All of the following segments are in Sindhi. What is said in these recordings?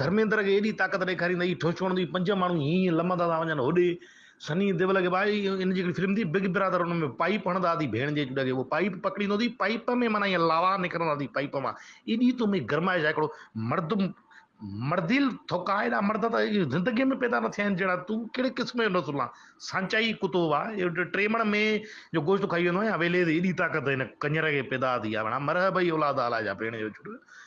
ڌرميندر کي ايڏي طاقت ڏيکاري ته اهي ٺوشوڻ جي پنج ماڻهو هينئن هينئن لمهندا ٿا وڃن. هوڏي سني ديول کي ڀائي ان جي هڪڙي فلم ٿي بگ برادر ان ۾ پائيپ هڻندا ٿي ڀيڻ جي چڏ کي اهو پائيپ پڪڙيندو ٿي پائيپ ۾ معنيٰ هينئن لاوا نڪرندا ٿي پائيپ مان ايڏي تو ۾ گرمائش آهي هڪڙو مرد مرديل ٿوڪا ايڏا مرد ته زندگيء ۾ پيدا نه ٿيا آهن جهڙا تون ڪهڙي قسم جو نسل آن سانچائي ڪتو وا ٽيمڻ مين جو گوشت کائي ويندو آهين يا ويليز ايڏي طاقت هن ڪڃر کي پيدا ٿي آهي مڙا مره ڀئي اولاد آلا جا ڀيڻ جو چڏ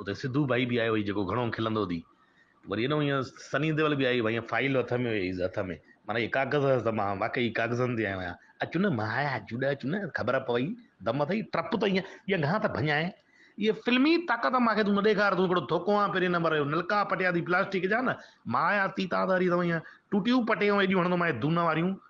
اتي سڌو ڀائي به آيو هئي جيڪو گهڻو کلندو هتي وري ايڏو ايئن سني ديول به آيو هئي ايئن فائيل هٿ ۾ هيس هٿ ۾ معنيٰ اهي ڪاغذ هيس ته مان واقعي ڪاغذن تي آيو آهيان اچ نه مايا اچ ڏه اچ نه خبر پوي دم اٿئي ٽپ ته ايئن ڄڻ گهان ته ڀڃائي اهي فلمي طاقت مان کي تون نه ڏيکار تون هڪڙو ڌوڪو آن پهرين نمبر جو نلڪا پٽيا اٿئي پلاسٽڪ جا نه مايا تي تان ته وري ايئن ٽوٽيون پٽيون ايڏيون هڻندومانء دون واريون